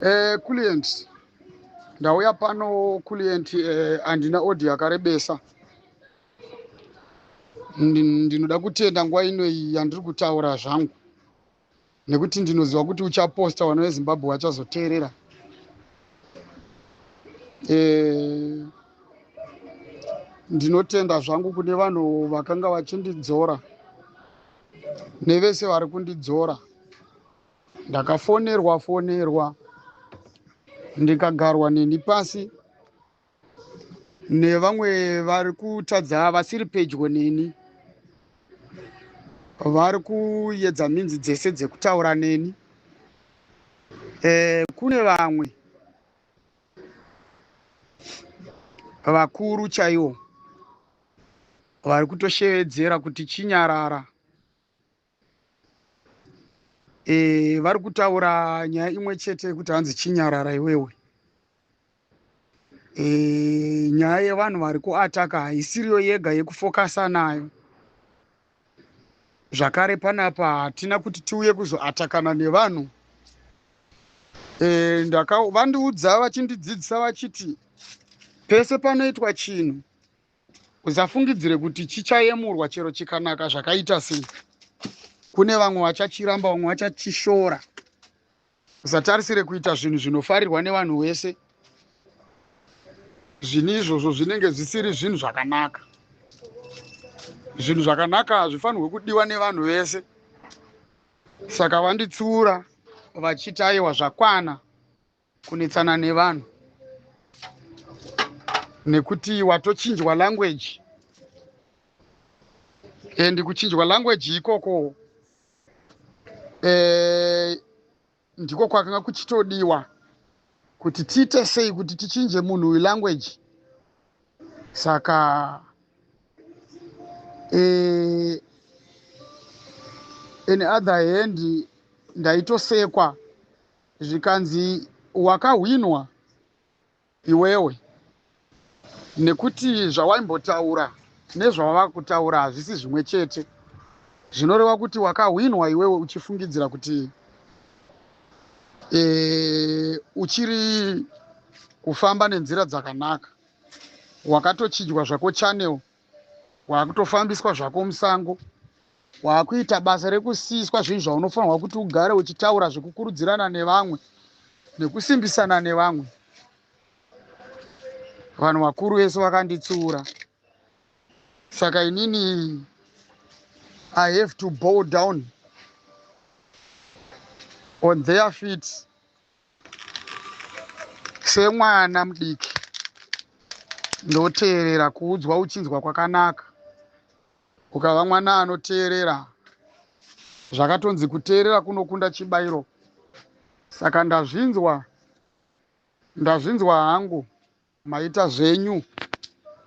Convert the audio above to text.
eh, kulient ndauya pano kulient eh, andina odi yakarebesa ndinoda kutenda nguva ino iyi yandiri kutaura zvangu nekuti ndinoziva kuti uchaposta vana vezimbabwe vachazoteerera eh, ndinotenda zvangu kune vanhu vakanga vachindidzora nevese vari kundidzora ndakafonerwa fonerwa ndikagarwa neni pasi nevamwe vari kutadza vasiri pedyo neni vari kuyedza minzi dzese dzekutaura neni e, kune vamwe vakuru chaiwo vari kutoshevedzera kuti chinyarara e, vari kutaura nyaya imwe chete yekuti hanzi chinyarara iwewe e, nyaya yevanhu vari kuataka haisiriyo yega yekufokasa nayo zvakare panapa hatina kuti tiuye kuzoatakana nevanhu e, ndaka vandiudza vachindidzidzisa vachiti pese panoitwa chinhu Usafungidzire kuti chichayemurwa chero chikanaka zvakaita sei. Kune vamwe vachachiramba, vamwe vachachishora. Usatarisire kuita zvinhu zvinofarirwa nevanhu wese. Zvinhu izvozvo zvinenge zvisiri zvinhu zvakanaka. Zvinhu zvakanaka hazvifanirwe kudiwa nevanhu vese. Saka vanditsiura vachiti aiwa zvakwana kunetsana nevanhu nekuti watochinjwa language and kuchinjwa language ikoko eh, ndiko kwakanga kuchitodiwa kuti tiite sei kuti tichinje munhu uyu language saka eh, in other hand ndaitosekwa zvikanzi wakahwinwa iwewe nekuti zvawaimbotaura nezvawava kutaura hazvisi zvimwe chete zvinoreva kuti wakahwinwa iwewe uchifungidzira kuti e, uchiri kufamba nenzira dzakanaka wakatochijwa zvako channel wakutofambiswa zvako musango wakuita basa rekusiiswa zvinhu zvaunofanirwa kuti ugare uchitaura zvekukurudzirana nevamwe nekusimbisana nevamwe vanhu vakuru vese vakanditsiura saka inini i have to bow down on their feet semwana mudiki ndoteerera kuudzwa uchinzwa kwakanaka ukava mwana anoteerera zvakatonzi kuteerera kunokunda chibairo saka ndazvinzwa ndazvinzwa hangu maita zvenyu